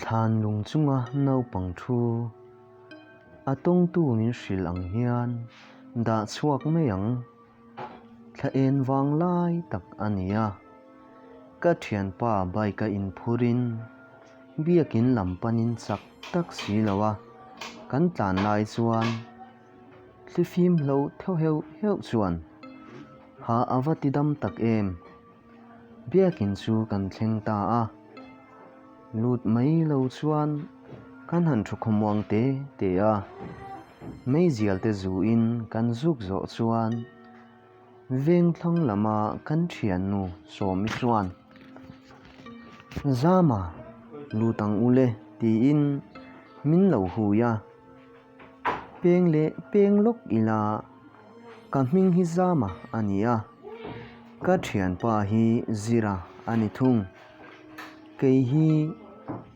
Thlanlung chunga naupang thu a tawngtu min hrilh ang hian dah chhuak mai ang. Thla en vang lai tak a ni a. Ka thianpa bike a inphurin biakin lam panin chak tak si lo a kan tlan lai chuan. Hlifim hlo theuh heuh heuh chuan, Ha a va ti dam tak em! Biakin chu kan thleng ta a, lut mai lo chuan kan han thu khawmuang te te a. Meizial te zu in kan zuk zawh chuan Vengthlang lama kan thiannu Sawmi chuan, Zama lut ang u le tiin min lo hui a. Peng leh peng lawk ila ka hming hi Zama a ni a, ka thianpa hi Zira a ni thung. Kei hi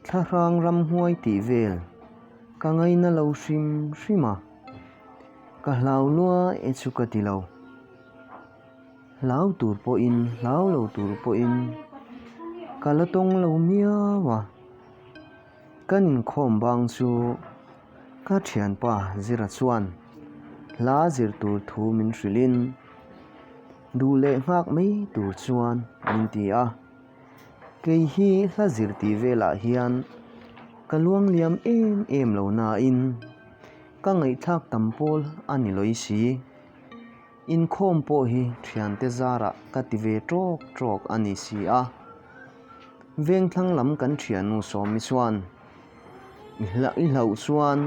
thlahrang ramhuai tih vel ka ngaih na lo hrim hrim a, ka hlau lua e chu ka ti lo. Hlau tur pawhin hlau lo tur pawhin ka la tawng lo miau a. Kan inkhawm bang chu ka thianpa Zira chuan hla zir tur thu min hrilhin, duh leh nghak mai tur chuan min ti a. Kei hi hla zir tih velah hian ka luang liam em em lo nain ka ngaihthlak tam pawl a ni lawisi. Inkhawm pawh hi thiante zarah ka ti ve trawk trawk a ni si a. Vengthlang lam kan thiannu Sawmi chuan, I hla i hlauh chuan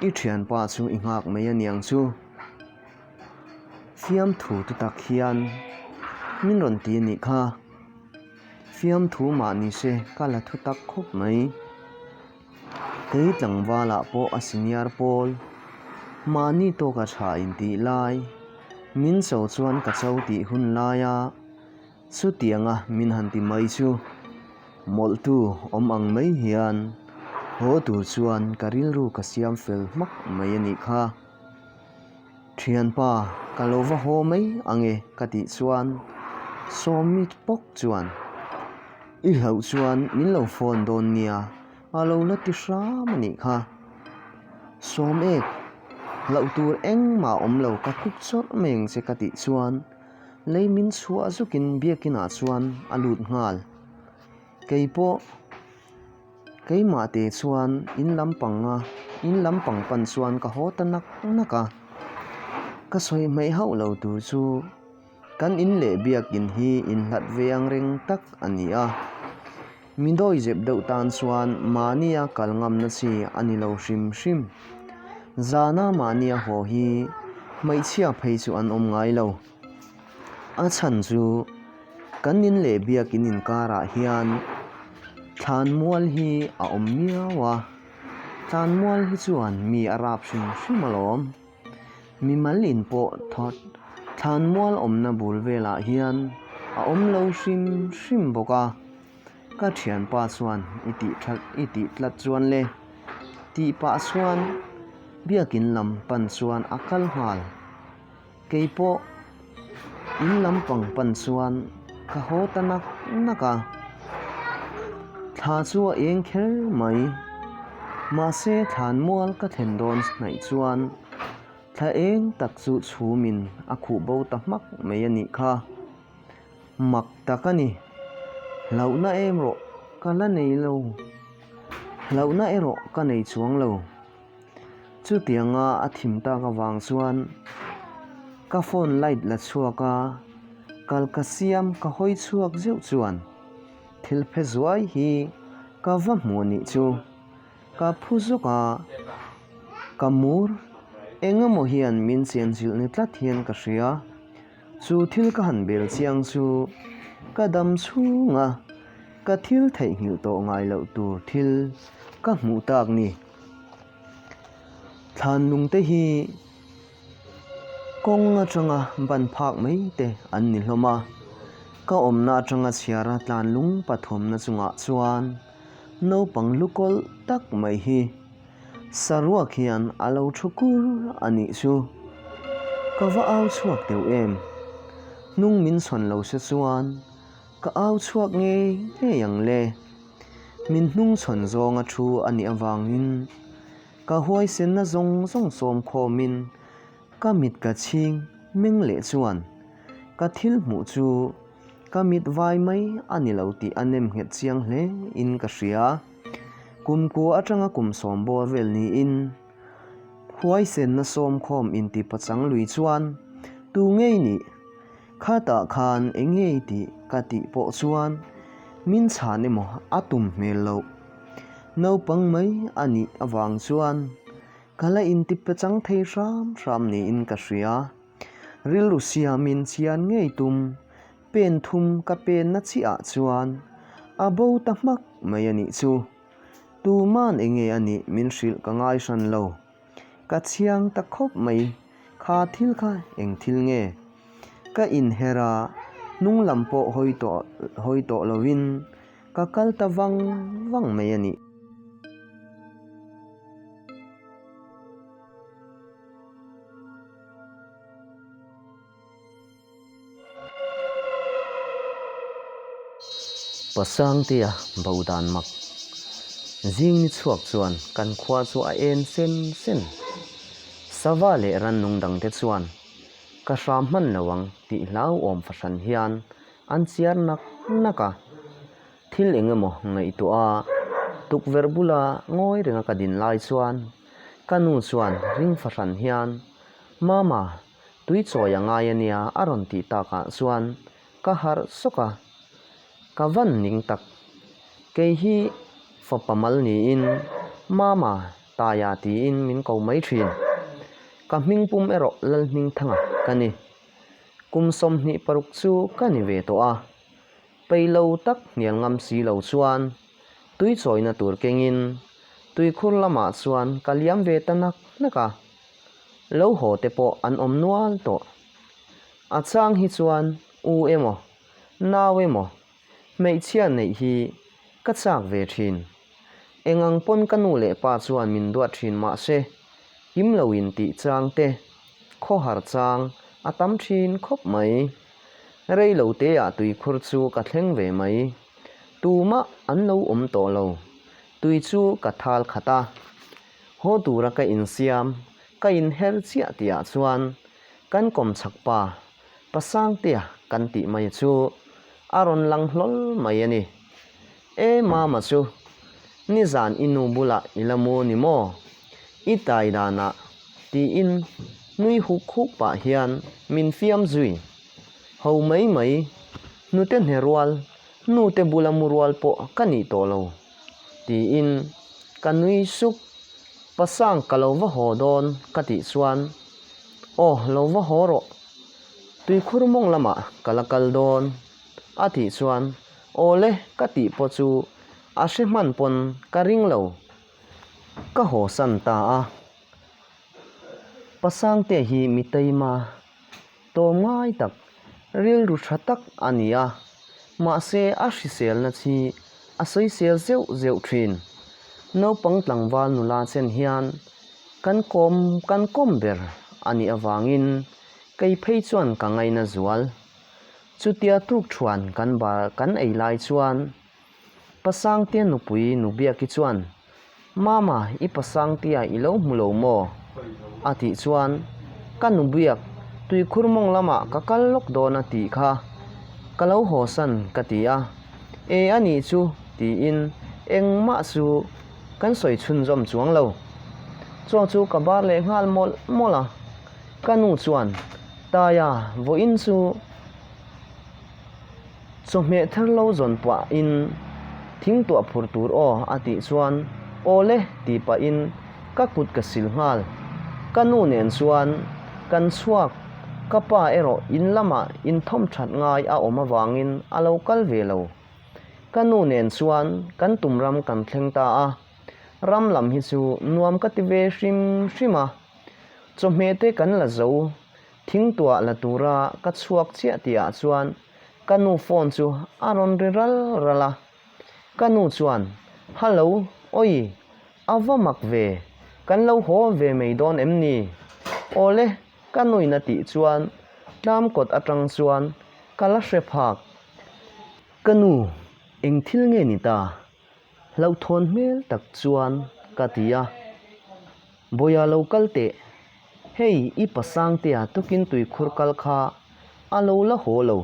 i thianpa chu i nghak mai a niang chu. Fiamthu tu tak hian min rawn ti a nih kha. Fiamthu mah nise ka la thutak khawp mai. Kei tlangvalah pawh a senior pawl mahni tawk a tha in tih lai, min cho chuan ka cho tih hun lai a, chutiang a min han ti mai chu. Mawlhtu awm ang mai hian haw tur chuan ka rilru ka siam fel hmak mai a nih kha. Thianpa, ka lo va haw mai ange, ka tih chuan Sawmi pawk chuan, I hlauh chuan min lo phone dawn nia, a lo la ti hram a nih kha. Sawmek, hlauh tur engmah awm lo, ka khuk chawrh mai ang che ka tih chuan lei min chhuah zukin biakinah chuan a lut nghal. Kei pawh. Keimah te chuan in lam panga in lam pang pan chuan ka haw ta nak nak a, ka sawi hmaih hauh lo tur chu kan in leh biakin hi in hlat veng reng tak a ni a, mi dawi zep deuh tan chuan mahnia kal ngamna chi a ni lo hrim hrim. Zana mahnia haw hi hmeichhia phei chu an awm ngai lo. A chhan chu kan in leh biakin inkarah hian thlan mual hi a awm miau a thlan mual hi chuan mi a rap hrim hrim alawm mi mal in pawh thawt thlan mual awmna bul velah hian a awm lo hrim hrim bawk a ka thianpa chuan i tih that i tih tlat chuan le tih pah chuan biakin lam pan chuan a kal nghal. Kei pawh in lam pang pan chuan ka haw ta nak nak a, thla chu a eng kher mai. Mahse thlan mual ka thlen dawn hnaih chuan thla eng tak chu chhum in a khuh bo ta hmak mai a nih kha. Mak tak a ni. Hlauh na em rawh ka la nei lo, hlauh na erawh ka nei chuang lo. Chutianga a thim tak avang chuan ka phone light la chhuak a, kal ka siam ka hawi chhuak zeuh chuan thil phe zuai hi ka va hmu a nih chu. Ka phu zawk a, ka mur engemaw hian min chenchilh ni tlat hian ka hria. Chu thil ka han bel chiang chu ka dam chhunga ka thil theihnghilh tawh ngai loh tur thil ka hmuh tak ni. Thlan lungte hi kawng atanga ban phak mai te an ni hlawm a, ka awmna atanga chhiara tlan lung pathumna chungah chuan naupang lu kawlh tak mai hi saruak hian a lo thu kur a nih chu. Ka va au chhuak deuh em! Hnung min sawn lo se chuan. Ka au chhuak ngei ngei ang le. Min hnung chhawn zawng a thu a nih avangin ka huaisenna zawng zawng sawm khawmin ka mit ka chhing meng leh chuan ka thil hmuh chu ka mit vai mai a ni lo tih a nem nghet chiang hle in ka hria. Kum kua atanga kum sawm bawr vel niin huaisenna sawm khawm inti pachang lui chuan, Tu ngei nih? Khatah khan eng nge i tih? ka tih pawh chuan min chhan emaw a tum hmel lo. Naupang mai a nih avang chuan ka la inti pechang thei hram hram niin ka hria. Rilru siamin chian ngei tum pen thum ka penna chiah chuan a bo ta hmak mai a nih chu. Tuman enge a nih min hrilh ka ngai hran lo. Ka chhiang ta khawp mai kha thil kha eng thil nge? Ka inher a, hnunglam pawh hawi tawh hawi tawh lovin ka kal ta vang vang mai a ni. Pasangtea boh dan mak zing ni chhuak chuan kan khua chu a en sen sen. Sava leh Rannung dangte chuan ka hram hman lo ang tih hlauhawm fahran hian an chiar nak nak a. Thil eng emaw ngaihtuah a tukverh bula ngawi renga ka din lai chuan ka nu chuan ring fahran hian Mama Tui chawi a ngai a nia a rawn tih takah chuan ka harh sawk a, ka van ning tak. Kei hi fapa mal niin Mama, Taiya tiin min ko mai thin. Ka hming pum erawh Lalhming Thanga ka ni. Kum sawmhnih paruk chu ka ni ve tawh a, peilo tak hnial ngam si lo chuan. Tui chawina tur kengin tuikhur lamah chuan ka liam ve ta nak nak a, lo haw te pawh an awm nual tawh. A chang hi chuan u emaw, nau emaw, hmeichhia neih hi ka chak ve thin. Eng ang pawn ka nu leh pa chuan min duat thin mahse, kim lo in tih chang te, khawhar chang a tam thin khawp mai. Rei lo teah tui khur chu ka thleng ve mai. Tumah an lo awm tawh lo. Tui chu ka thal khat a. Haw tura ka insiam, ka inher chiah tihah chuan kan kawmchhak pa Pasangtea kan tih mai chu a rawn lang hlawl mai a ni. E Mama chu nizan i nu bulah i la mu ni maw? I tai dan a, tiin nui huk huk pah hian min fiam zui. Ho mai mai, nute hne rual, nute bula mu rual pawh ka nih tawh lo, tiin ka nui suk. Pasang ka lo va haw dawn ka tih chuan, Aw lo va haw rawh, tuikhur mawng lamah ka la kal dawn, a tih chuan Awle ka tih pawh chu a hre hman pawn ka ring lo. Ka haw san ta a. Pa Sangte hi mi taima tawm ngai tak, rilru tha tak a ni a, mahse a hriselna chi a sawisel zeuh zeuh thin. Naupang tlangval nula chen hian kan kawm kan kawm ber a nih avangin kei phei chuan ka ngaina zual. Chutia tuk thuan kan bar kan ei lai chuan Pasangtia nupui Nubiaki chuan, Mama, i Pasangtia i lo hmu lo maw? a tih chuan ka nubiak Tuikhurmawng lamah ka kal lawk dawn a tih kha ka lo hawsan ka ti a, e a nih chu tiin engmah chu kan sawi chhunzawm chuang lo. Chaw chu ka bar leh nghal mawlh mawlh a. Ka nu chuan, Taia, vawiin chu chawhmeh ther lo zawn puah in thing tuah phur tur aw a tih chuan, Awle tih pah in ka kut ka sil nghal. Ka nu nen chuan, Kan chhuak, ka pa erawh in lamah in thawm that ngai a awm avangin a lo kal ve lo. Ka nu nen chuan kan tum ram kan thleng ta a, ram lam hi chu nuam ka ti ve hrim hrim a. Chawhmeh te kan la zo, thingtuah la tura ka chhuak chiah tihah chuan ka nu phone chu a rawn ri ral ral a. Ka nu chuan, Hallo, awi, a va mak ve, kan lo haw ve mai dawn em ni? Awle, ka nuin a tih chuan tlam kawt atang chuan ka la hre phak. Ka nu, eng thil nge ni ta? Hlauhthawn hmel tak chuan ka ti a, Bawia lo kal teh, hei i pa Sangtea tukin tui khur kal kha a lo la haw lo,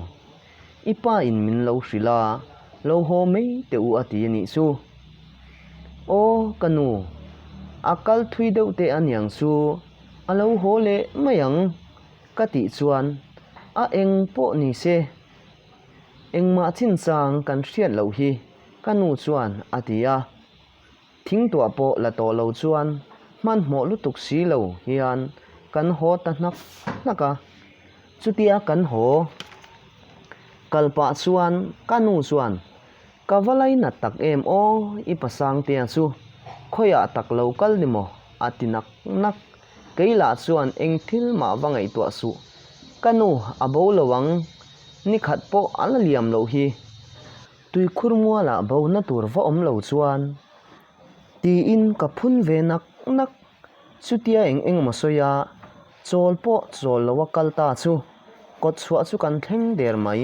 i pa in min lo hrilh a, lo haw mai teh u a ti a nih chu. Aw ka nu, a kal thui deuh teh a niang chu a lo haw leh mai ang ka tih chuan, a eng pawh ni se, Engmah chinchang kan hriat loh hi, ka nu chuan a ti a. Thing tuah pawh la tawh lo chuan hmanhmawh lutuk si lo hian kan haw ta hnak hnak a. Chutia kan haw kal pah chuan ka nu chuan, Ka va lai nat tak em aw i pasangtea chu khawiah tak lo kal ni maw? a ti nak nak. Kei lah chuan engthil mah va ngaihtuah suh. Ka nu, a bo lo ang, nikhat pawh a la liam loh hi. Tuikhur mualah bo na tur va awm lo chuan. Tiin ka phun ve nak nak. Chutia eng eng maw sawi a, chawl pawh chawl lo a kal ta chu. Kawt chhuah chu kan thleng der mai.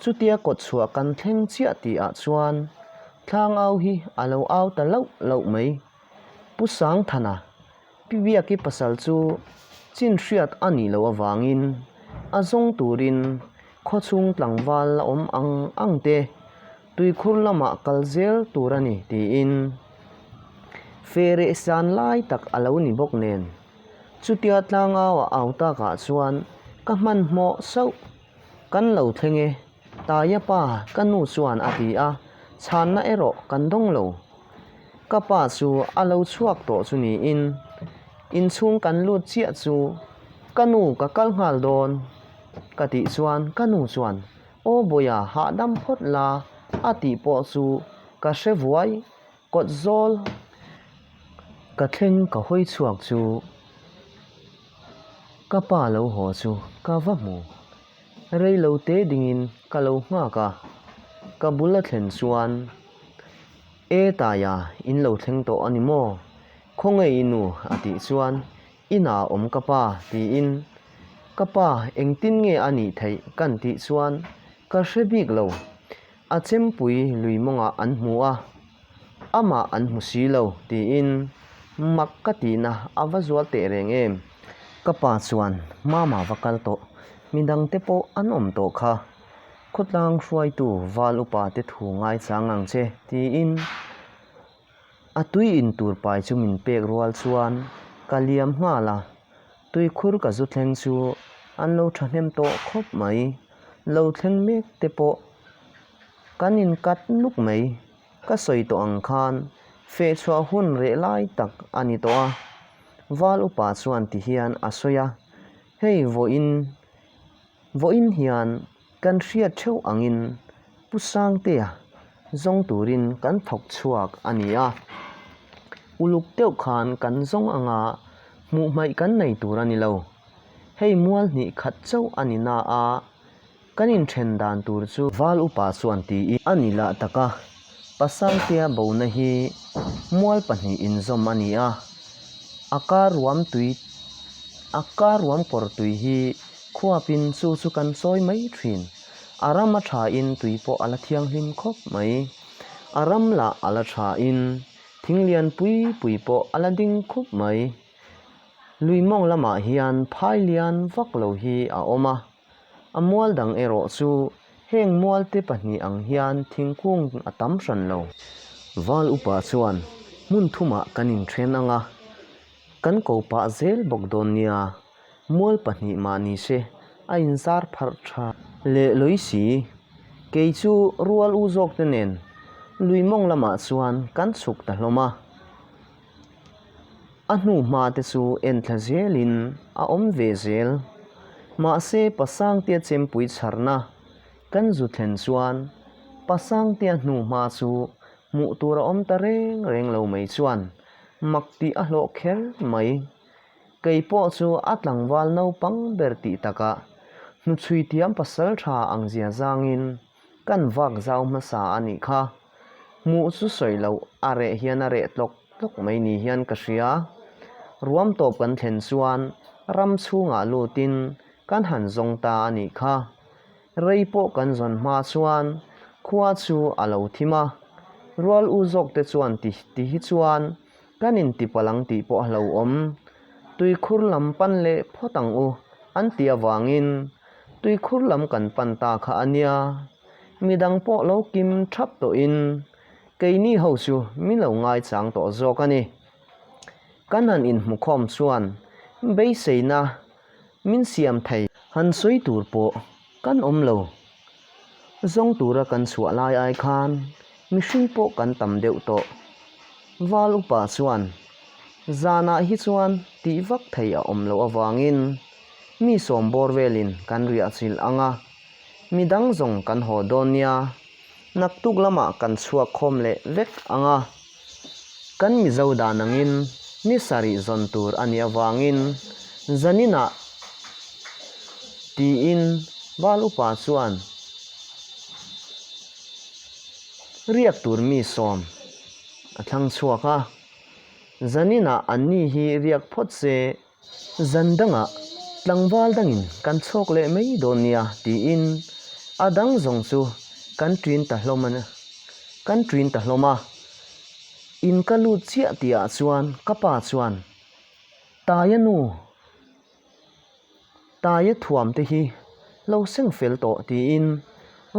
Chutia kawt chhuah kan thleng chiah tih ah chuan thlang au hi a lo au ta lauh lauh mai. Pu Sangthana, Pi Viaki pasal chu chin hriat a nih loh avangin a zawng turin khaw chhung tlangval a awm ang ang te, tuikhur lamah kal zel tur a ni tiin fe reh san lai tak a lo ni bawk nen, chutia tlangau a au takah chuan ka hmanhmawh sauh. Kan lo thleng e, Taia pa ka nu chuan a ti a, chhanna erawh kan dawng lo. Ka pa chu a lo chhuak tawh chu niin inchhung kan lut chiah chu ka nu ka kal nghal dawn ka tih chuan ka nu chuan Aw bawia hahdam phawt la a tih pawh chu ka hre vuai. Kawtzawl ka thleng ka hawi chhuak chu ka pa lo haw chu ka va hmu. Rei lo te dingin ka lo nghak a, ka bula thlen chuan, E Taia in lo thleng tawh a ni maw? Khawngaih i nu? a tih chuan, Inah a awm ka pa, tiin ka pa engtin nge a nih theih? kan tih chuan ka hre bik lo. A chempui lui mawngah an hmu a, amah an hmu si lo, tiin mak ka tihna a va zual teh reng em? Ka pa chuan Mama va kal tawh, midang te pawh an awm tawh kha, khawtlang hruaitu val upa te thu ngai chang ang che, tiin A tui in tur pai chu min pek rual chuan ka liam nghal a, tui khur ka zu thleng chu an lo thahnem tawh khawp mai. Lo thleng mek te pawh kan in cut nuk mai. Ka sawi tawh ang khan feh chhuah hun reh lai tak a ni tawh a, Val upa chuan ti hian a sawi a, hei vawiin. Vawiin hian kan hriat theuh angin Pu Sangtea zawng turin kan thawk chhuak a ni a. Uluk deuh khan kan zawng anga hmuhhmaih kan nei tur a ni lo. Hei mual hnih khat chauh a ni na a kan inthen dan tur chu. Val upa chuan ti i a ni lah tak a. Pasaitea bona hi mual pahnih inzawm a ni a, a karuam tui a karuam kawr tui hi khuapin chu chu kan sawi mai thin. A ram a thain tui pawh a la thianghlim khawp mai. A ram lah a la thain thing lian pui pui pawh a la ding khup mai. Lui mawng lamah hian phai lian vak lo hi a awm a. A mual dang erawh chu heng mualte pahnih ang hian thingkung a tam hran lo. Val upa chuan, Hmun thumah kan inthen ang a, kan ko pah zel bawk dawn nia, mual pahnih mah ni se, a inzar pharh tha. Le Loisi, kei chu rual u zawkte nen Luimawng lamah chuan kan chhuk ta hlawm a. A hnuhma te chu en thla zel in a awm ve zel. Mahse Pa Sangtea chempui chharna kan zu thlen chuan Pa Sangtea hnuhma chu hmuh tur a awm ta reng reng lo mai chuan mak tih a hlawh kher mai. Kei pawh chu a tlangval naupang ber tih takah hnuchhui thiam pasal tha ang zia zangin, Kan vak zau hmasa a nih kha, hmuh chu sawi lo, a reh hian a reh tlawk tlawk mai ni hian ka hria. Ruam tawp kan thlen chuan ram chhungah lutin kan han zawng ta a nih kha. Rei pawh kan zawn hma chuan khua chu a lo thim a, rual u zawkte chuan ti ti hi chuan Kan intipalh ang tih pawh a lo awm. Tuikhur lam pan leh phawt ang u an tih avangin tuikhur lam kan pan ta kha a nia. Midang pawh lo kim thap tawhin keini ho chu min lo ngaichang tawh zawk a ni. Kan han inhmukhawm chuan beiseina Min siam thei. Han sawi tur pawh kan awm lo. Zawng tura kan chhuah lai ai khan mihring pawh kan tam deuh tawh. Val upa chuan, Zanah hi chuan tih vak thei a awm loh avangin mi sawm bawr velin kan riahchilh ang a, mi dang zawng kan haw dawn nia, naktuk lamah kan chhuak khawm leh vek ang a. Kan Mizo dan angin ni sarih zawn tur a nih avangin zanin ah tiin bal upa chuan riak tur mi sawm a thlang chhuak a, zanin ah an ni hi riak phawt se. Zan dangah tlangval dangin kan chhawk leh mai dawn nia tiin a dang zawng chu kan ṭin ta hlawm a, kan ṭin ta hlawm a. In ka lut chiah tihah chuan ka pa chuan, Taia nu, Taia thuam te hi lo seng fel tawh tiin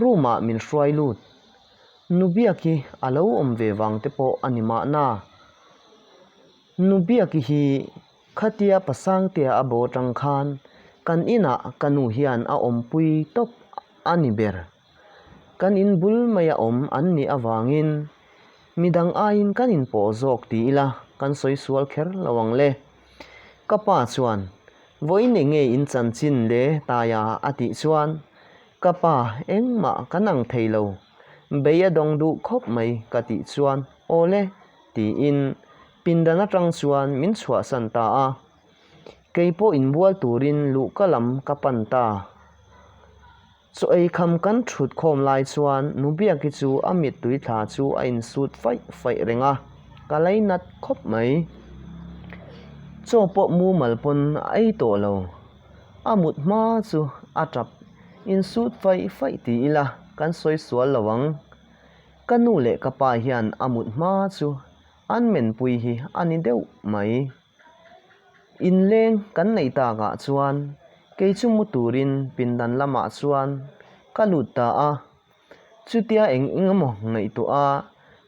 room ah min hruai lut. Nu biak hi a lo awm ve vang te pawh a ni mahna. Nu biak hi khatia Pasangtea a bo tang khan kan inah ka nu hian a awmpui tawp a ni ber. Kan in bul mai a awm an nih avangin midang aiin kan in pawh zawk ti ila kan sawi sual kher lo ang le. Ka pa chuan, Vawiin enge in chanchin le taia a tih chuan ka pa engmah kan ang thei lo. Bei a dawng duh khawp mai ka tih chuan awle tiin pindan atang chuan min chhuahsan ta a, keipawh inbual turin luh ka lam ka pan ta. Chaw ei kham kan thut khawm lai chuan nu biaki chu a mittui thla chu a insut faih faih reng a, ka lei nat khawp mai. Chaw pawh mumal pawn a ei tawh lo, A mut hma chu a tap insut faih faih ti ila kan sawi sual lo ang. Ka nu leh ka pa hian a mut hma chu an menpui hi a ni deuh mai. Inleng kan neih tak ah chuan kei chu mu turin pindan lamah chuan ka lut ta a, chutia eng engemaw ngaihtuah a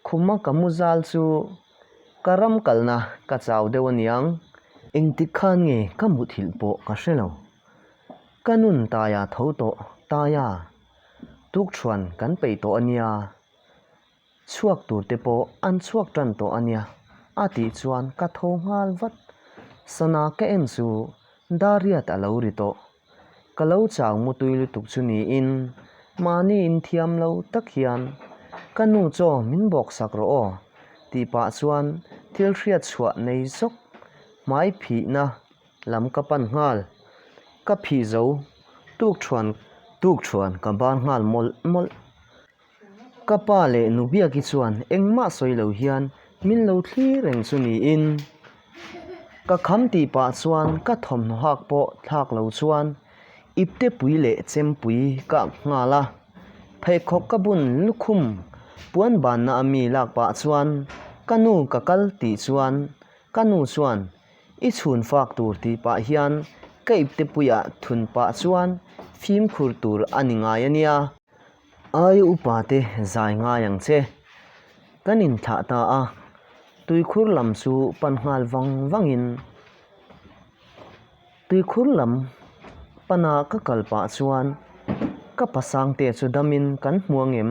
khuma ka mu zal chu Ka ram kalna ka chau deuh aniang. Engtik khan nge ka muthilh pawh ka hre lo. Ka nun taia tho tawh taia tukṭhuan kan peih tawh ania, chhuak turte pawh an chhuak ṭan tawh ania a tih chuan ka tho nghal vat. Sana ka en chu Dariat a lo ri tawh. Ka lo chang mutui lutuk chu niin, mahni in thiam lo tak hian, Ka nu chaw min bawksak rawh aw, tih pah chuan thil hriat chhuah nei zawk hmai phihna lam ka pan nghal. Ka phih zo tuk thuan tuk thuan ka ban nghal mawlh mawlh. Ka pa leh nu biaki chuan engmah sawi lo hian min lo thlir reng chu niin ka kham tih pah chuan ka thawmhnaw hak pawh thlak lo chuan iptepui leh chempui ka ak nghal a. Pheikhawk ka bun lukhum puan banna a mi lak pah chuan ka nu ka kal tih chuan ka nu chuan i chhun fak tur tih pah hian ka iptepuiah thun pah chuan fimkhur tur a ni ngai a nia. Ai upa te zai ngai ang che. Kan in thlah ta a, tuikhur lam chu pan nghal vang vang in tuikhur lam pana ka kal pah chuan ka pa sang te chu dam in kan hmuang em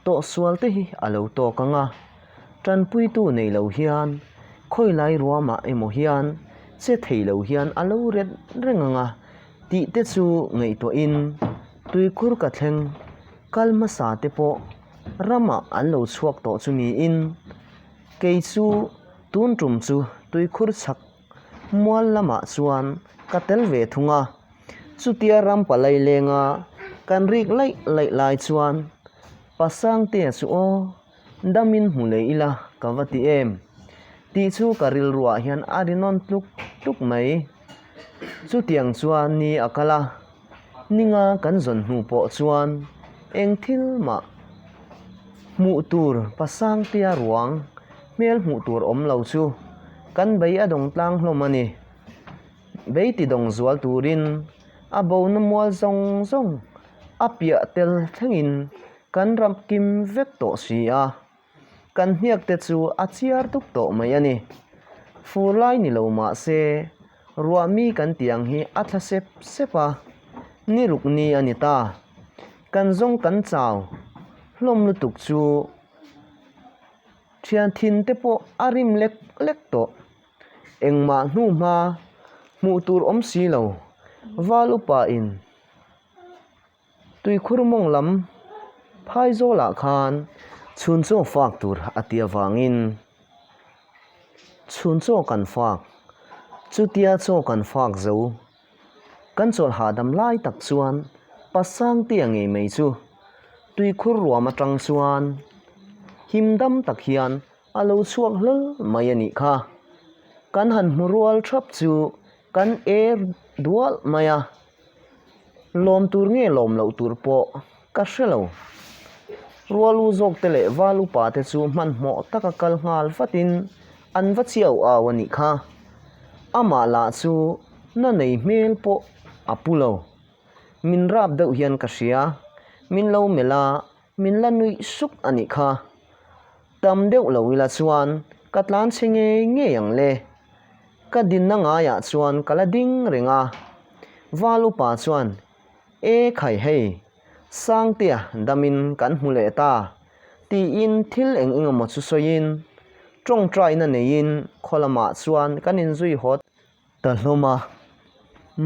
tawh sual te hi a lo tawk ang a, tanpui tu nei lo hian khawi lai ruama emaw hian che thei lo hian a lo ret reng ang a. Tih te chu ngaihtuah in tuikur ka thleng, kal hmasa te pawh ramah an lo chhuak tawh chu niin kei chu tun tum chu tuikhur chhak mual lamah chuan ka tel ve thung a, chutia ram palai lenga kan rik laih laih lai chuan Pasangtea chu aw. Dam in hmu leh ila ka va ti em? Tih chu ka rilruah hian a rinawn tluk tluk mai. Chutiang chuan ni a kal a, ninga kan zawn hnu pawh chuan eng thil mah hmuh tur pasang tia ruang hmel hmuh tur awm lo chu kan bei a dawng tlang hlawm a ni. Bei ti dawng zual turin a bona mual zawng zawng a piah tel thlengin. Kan ram kim vek tawh si a, kan hniak te chu a chiar dup tawh mai a ni. Fur lai ni lo mahse, ruahmi kan tih ang hi a thla sep sep a, ni ruk ni a ni ta. Kan zawng kan chau hlawm lutuk chu thianthin te pawh a rim lek lek tawh. Engmah hnu hma hmuh tur awm si lo, val upa in. Tuikhurmawng lam Phaizawlah khan chhunchaw fak tur a ti avangin chhunchaw kan fak, chutia chaw kan fak zo. Kan chawlh hahdam lai tak chuan Pasangte a ngei mai chu Tuikhur ruam atang chuan him dam tak hian a lo chhuak hlawlh mai a nih kha. Kan han hmu rual thap chu kan er dualh mai a. Lawm tur nge lawm loh tur pawh ka hre lo. Rual u zawkte leh val upa te chu hmanhmawh taka kal nghal vatin an va chiau au a nih kha. Amah lah chu na nei hmel pawh a pu lo. Min rap deuh hian ka hria, min lo melh a. Min la nuih suk a nih kha. Tam deuh lo ila chuan ka tlan chhe ngei ngei ang le. Ka dinna ngaiah chuan ka la ding reng a. Val upa chuan, E khai hei, Sangtea damin kan hmu leh ta, tiin thil eng engemaw chu sawiin, ṭawngṭaina neiin khaw lamah chuan kan inzui hawt Ka hlawm a,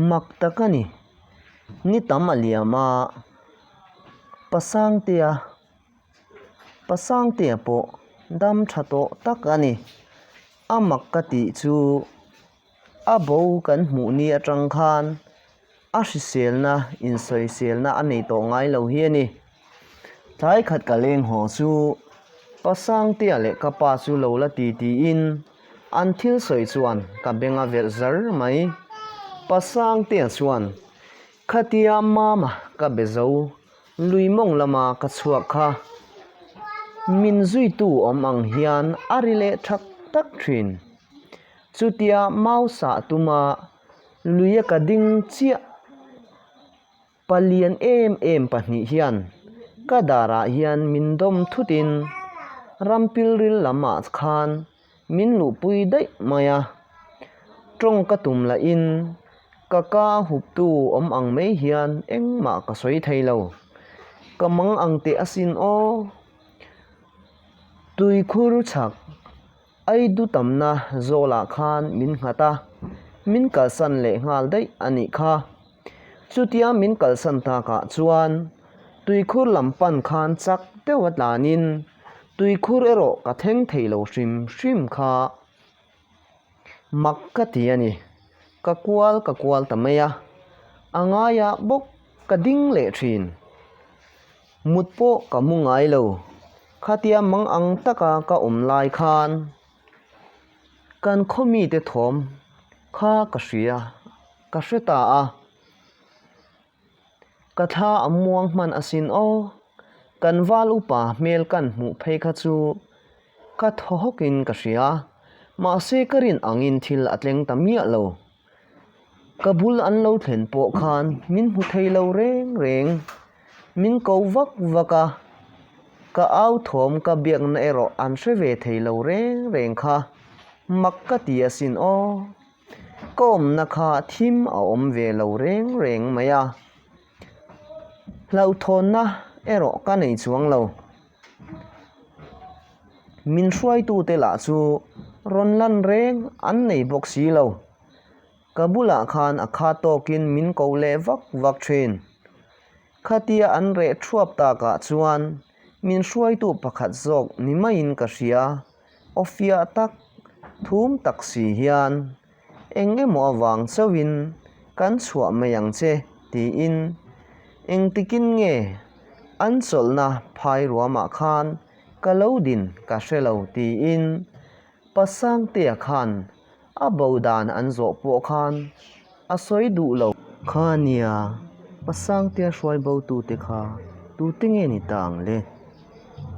mak tak a ni. Ni tam a liam a, Pa Sangtea, Pa Sangtea pawh dam tha tawh tak a ni. A mak ka tih chu a bo kan hmuh ni atang khan. a hriselna insawiselna a nei tawh ngai lo hi a ni. Tlai khat ka leng haw chu pa Sangtea leh ka pa chu lo la ti tiin an thil sawi chuan ka beng a velh zar mai. Pa Sangtea chuan, Khatia mama ka be zo, Luimawng lama ka chhuak kha, min zuitu awm ang hian a ri leh thak tak thin. Chutia Mausa tuma. Luia ka ding chiah. Palian em em pahnih hian ka darah hian min dawm thutin Rampilril lamah khan min luhpui daih mai a. Tawng ka tum lahin ka ka huptu awm ang mai hian engmah ka sawi thei lo. Ka mang ang teh asin aw. Tuikhur chak. Ai du tamna zawlah khan min nghat a, min kalsan leh nghal daih a nih kha. Chutia min kalsan takah chuan tuikhur lam pan khan chak deuh a tlanin tuikhur erawh ka thleng thei lo hrim hrim kha. Mak ka ti a ni. Ka kual ka kual ta mai a, a ngaia bawk ka ding leh thin. Mut pawh ka mu ngai lo. Khatia mang ang taka ka awm lai khan kan khaw mite thawm kha ka hria, ka hre ta a. Ka thla a muang hman asin aw, kan val upa hmel kan hmuh phei kha chu ka thaw hawkin ka hria. Mahse ka rinangin thil a tleng ta miah lo. Ka bul an lo thlen pawh khan min hmu thei lo reng reng, min ko vak vak a, ka au thawm ka biakna erawh an hre ve thei lo reng reng kha, mak ka ti a sin aw. Ka awmna kha thim a awm ve lo reng reng mai a, hlauhthawnna erawh ka nei chuang lo, Min hruaitute lah chu rawn lan reng an nei bawk si lo. Ka bulah khan a khat tawkin min ko leh vak vak thin. Khatia an reh thuap takah chuan min hruaitu pakhat zawk ni maiin ka hria. Awfia tak, thum tak si hian Eng emaw avang chauhin kan chhuah mai ang che, tiin engtikin nge an chawlhna phai ruamah khan ka lo din ka hre lo, tiin Pa Sangtea khan a bo dan an zawh pawh khan a sawi duh lo. Khania Pa Sangtea hruai bo tute kha tute nge ni ta ang le?